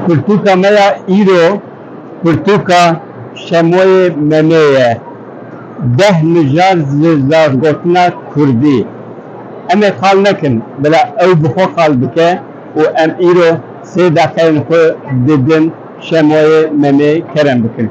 Pirtûka me ya îro pirtûka Şemoyê Memê ye. Deh mijar ji zargotina kurdî. Em ê qal nekin, bila ew bi xwe qal bike û em îro sê deqeyên xwe di bin Şemoyê Memê kerem bikin.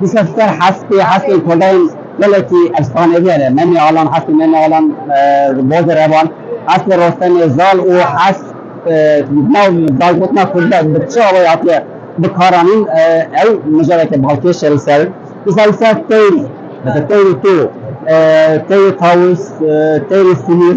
Di serdster hespê hespên kodayên gelekî efsaneviyan e. Memê Alan, hespê Memê Alan li Bozê re van. Hespê Rostemê Zal û hesp di nav dargotina kurdî de bi çi awayî hatiye bikaranîn ew mijareke balkêş e li ser. Dîsa li ser teyr, mesela teyrê to, teyrê tawus, teyrê sinîr.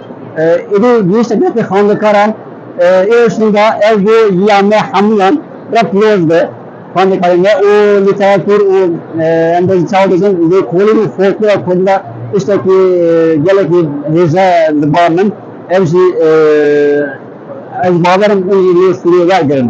Êdî gihîşte gelekî xwendekaran ê ûşîn de ev bû ya me hemûyan re piroz be. Xwendekarê me û lîteratûr û em bê ji çawa dizin lê kolîn û folklora kurdî de tiştekî gelekî hêje di bar min ev jî ez bawer im hûn jî lê sûrê wergirin.